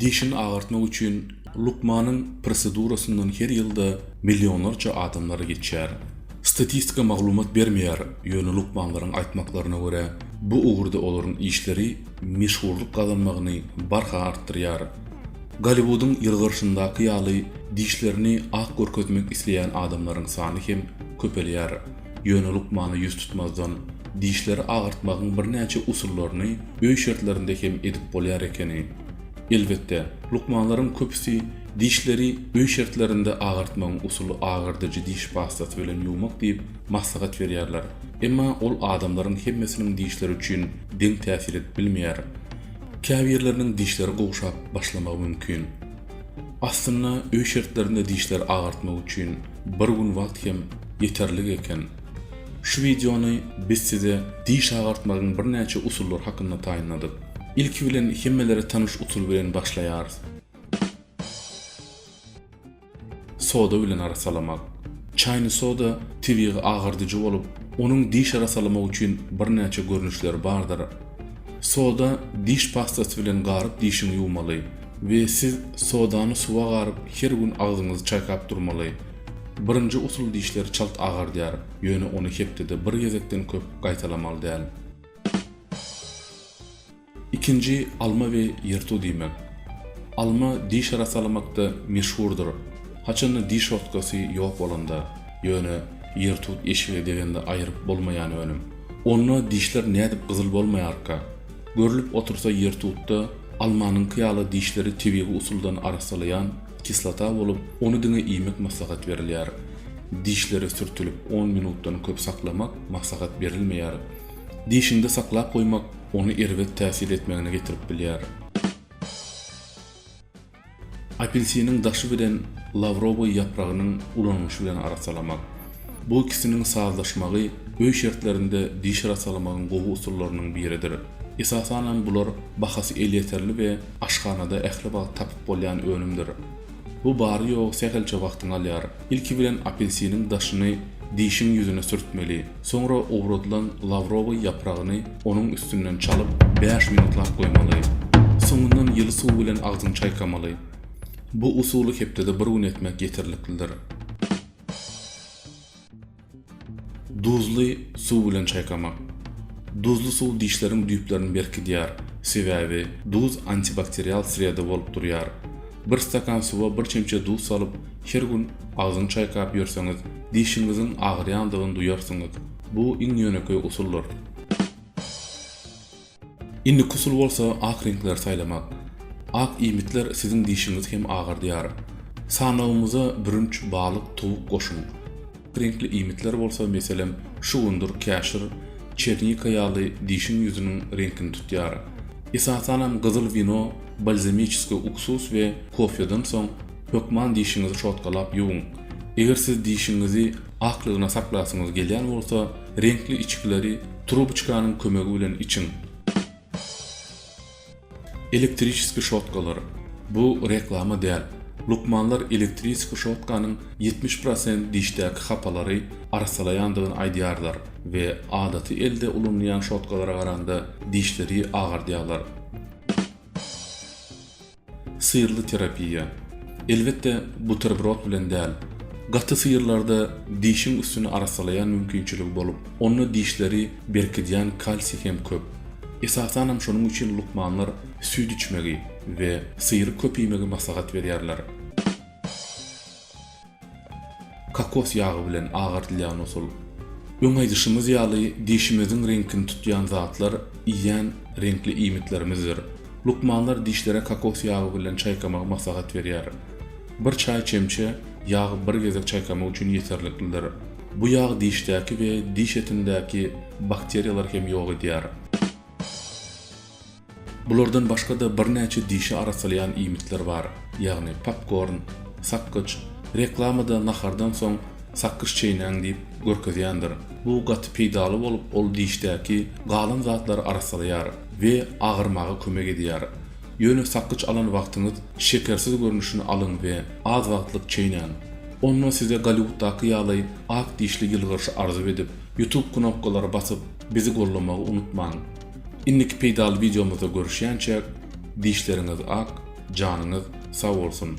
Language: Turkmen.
Dişini agartmak üçin lukmanyň prosedurasyndan her ýylda millionlarça adamlar geçýär. Statistika maglumat bermeýär, ýöne lukmanlaryň aýtmaklaryna görä, bu ugurda olaryň işleri meşhurlyk gazanmagyny barha artdyrýar. Golliwudyň ýylgyrşyndaky ýaly dişlerini ak görkezmek isleýän adamlaryň sany hem köpelýär. Ýöne lukmana ýüz tutmazdan, dişleri agyrtmagyň birnäçe usullaryny öý şertlerinde hem edip bolýar ekeni. Elbetde, lukmanlaryň köpüsi dişleri öý şertlerinde agyrtmagyň usuly agyrdyjy diş pastasy bilen ýuwmak diýip, maslahat berýärler. Emma ol adamlaryň hemmesiniň dişleri üçin deň täsir edip bilmeýär. Käbirleriniň dişleri gowşap başlamagy mümkin. Aslynda öý şertlerinde dişleri agartmak üçin bir gün wagt hem ýeterlik eken. Şu wideony biz size diş agartmagyň birnäçe usullary hakynda taýynladyk. Ilki bilen hemmelere tanyş usul bilen başlaýarys. Soda bilen arassalamak. Çaýny soda tebigy agardyjy bolup, onuň diş arassalamak üçin birnäçe görnüşleri bardyr. Soda diş pastasy bilen garyp dişiňi ýuwmaly. We siz sodany suwa garyp her gün agzyňyzy çaýkap durmaly. Birinji usul dişleri çalt agardýar, ýöne ony hepdede bir gezekden köp gaýtalamaly däl. Ikinji alma we ýyrtuw diýmek. Alma diş arasalamakda meşhurdyr, haçanda diş ortkasy ýok bolanda, ýöne ýyrtuw eşige degende aýyryp bolmaýan önüm. Onda dişler nädip gyzyl bolmaýarka? Görlüp otursa ýertutda almanyňky ýaly dişleri tebigy usuldan arassalaýan kislota bolup, ony diňe iýmek maslahat berilýär. Dişlere sürtülip on minutdan köp saklamak maslahat berilmeýär. Dişiňde saklap goýmak ony erbet täsir etmegine getirip bilýär. Apelsiniň daşy bilen lawrowy ýapragynyň ulanylyşy bilen arassalamak. Bu ikisiniň sazlaşmagy öý şertlerinde diş arassalamagyň gowy usullarynyň biridir. Esasanam bular bahasy elýeterli we aşhanada ähli wagt tapyp bolýan önümdir. Bu bary-ýogy sähelçe wagtyňy alýar. Ilki bilen apelsiniň daşyny dişiň ýüzüne sürtmeli. Soňra owradylan lawrowy ýapragyny onuň üstünden çalyp, bäş minutlap goýmaly. Soňundan ýyly suw bilen agzyňy çaýkamaly. Bu usuly hepdede bir gün etmek ýeterliklidir. Duzly suw bilen çaýkamak. Duzly suw dişleriň düýplerini berkidýär, sebäbi duz antibakterial sreda bolup durýar. Bir stakan suwa bir çemçe duz salyp, Her gün agzyňy çaýkap ýörseňiz, dişiňiziň agyrýandygyny duýarsyňyz. Bu iň ýönekeý usuldyr. Indiki usul bolsa ak reňkleri saýlamak. Ak iýmitler siziň dişiňizi hem agardýar. Sanawymyza bürünç, balyk, towuk goşuň. Ak reňkli iýmitler bolsa, meselem, şugundyr, käşir, çernika ýaly dişiň ýüzüniň reňkini tutýar. Esasanam gyzyl wino, balzamiçeskiý uksus we kofeden soň, Hökman dişiňizi şotgalap ýuwuň. Eger siz dişiňizi aklygyna saklasyňyz gelýän bolsa, reňkli içgileri trubuçkanyň kömegi bilen içiň. Elektriçeski şotgalar. Bu reklama däl. Lukmanlar elektriçeski şotkanyň ýetmiş prosent dişdäki hapalary arassalaýandygyny aýdýarlar we adaty elde ulanylýan şotgalara garanda dişleri agardýarlar. Syrly terapiýa. Elbetde, buterbrod bilen däl. Gaty syrlarda dişiň üstüni arassalaýan mümkinçiligi bolup, onda dişleri berkidýän kalsiý hem köp. Esasanam şonuň üçin lukmanlar süýt içmegi we syry köp iýmegi maslahat berýärler. Kokos ýagy bilen agardylýan usul. Öň aýdyşymyz ýaly, dişimiziň reňkini tutýan zatlar iýýän reňkli iýmitlerimizdir. Lukmanlar dişlere kokos ýagy bilen çaýkamagy maslahat berýär. Bir çaý çemçe ýag bir gezek çaýkamak üçin ýeterliklidir. Bu ýag dişdäki we diş etindäki bakteriýalary hem ýok edýär. Bulardan başga-da birnäçe dişi arassalýan iýmitler bar, ýagny popkorn, sakgyç, reklamada nahardan soň sakgyç çeýnäň diýip görkezýändir. Bu gaty peýdaly bolup, ol dişdäki galan zatlary arassalaýar we agyrmaga kömek edýär. Ýöne sakgyç alan wagtyňyz şekersiz görnüşini alyň we az wagtlyk çeýnäň. Onda size Golliwuddaky ýaly ak dişli ýylgyryş arzuw edip, YouTube knopkalary basyp, bizi gollamagy unutmaň. Indiki peýdaly wideomyzda görüşýänçäk dişleriňiz ak, janyňyz sag bolsun!